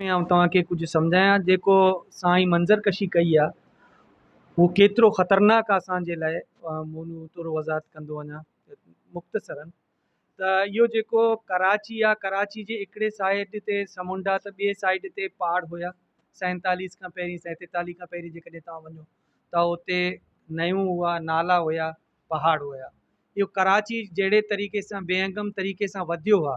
۾ آئون توهان کي ڪجهه سمجهايان جيڪو سائين منظر ڪشي ڪئي آ هو ڪيترو خطرناڪ آ اسان جي لاء مون ٿورو وضاحت ڪندو وڃان مختصرا ته اهو جيڪو ڪراچي آ ڪراچي جي هڪڙي سائيڊ تي سمنڊ آ ته ٻي سائيڊ تي پاڙ هيا سينتاليس کان پهرين سيتيتاليس کان پهرين جيڪڏهن توهان وڃو ته اتي نيون هئا نالا هيا پهاڙ هيا اهو ڪراچي جهڙي طريقي سان بي انگم طريقي سان وڌيو آ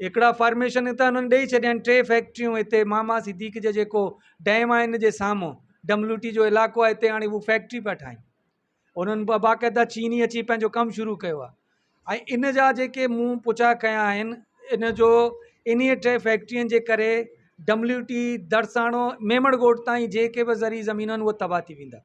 اھڙا فارميشن ھتان ھنن ڏئي ڇڏيا آھن ٽي فيڪٽريون ھتي ماما صديق جي جيڪو ڊيم آھي ان جي سامھون ڊملوٽي جو علائقو آھي ھتي ھاڻي ھو فيڪٽري پيا ٺاھين انھن باقاعده چيني اچي پنھنجو ڪم شروع ڪيو آھي ۽ ان جا جيڪي مون پچا ڪيا آھن ان جو انھي ٽي فيڪٽرين جي ڪري ڊملوٽي درساڻو ميمڻ ڳوٺ تائين جيڪي به زرعي زمينون اھي تباھ ٿي ويندا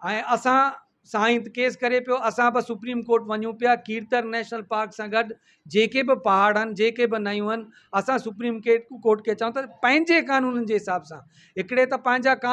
۽ اسان سائين ته ڪيس ڪري پيو اسان به سپريم ڪورٽ وڃون پيا کيرٿر نيشنل پارڪ سان گڏ جيڪي به پهاڙ آهن جيڪي به نيون آهن اسان سپريم ڪورٽ کي چون ته پنهنجي قانونن جي حساب سان هڪڙي ته پنهنجا قانون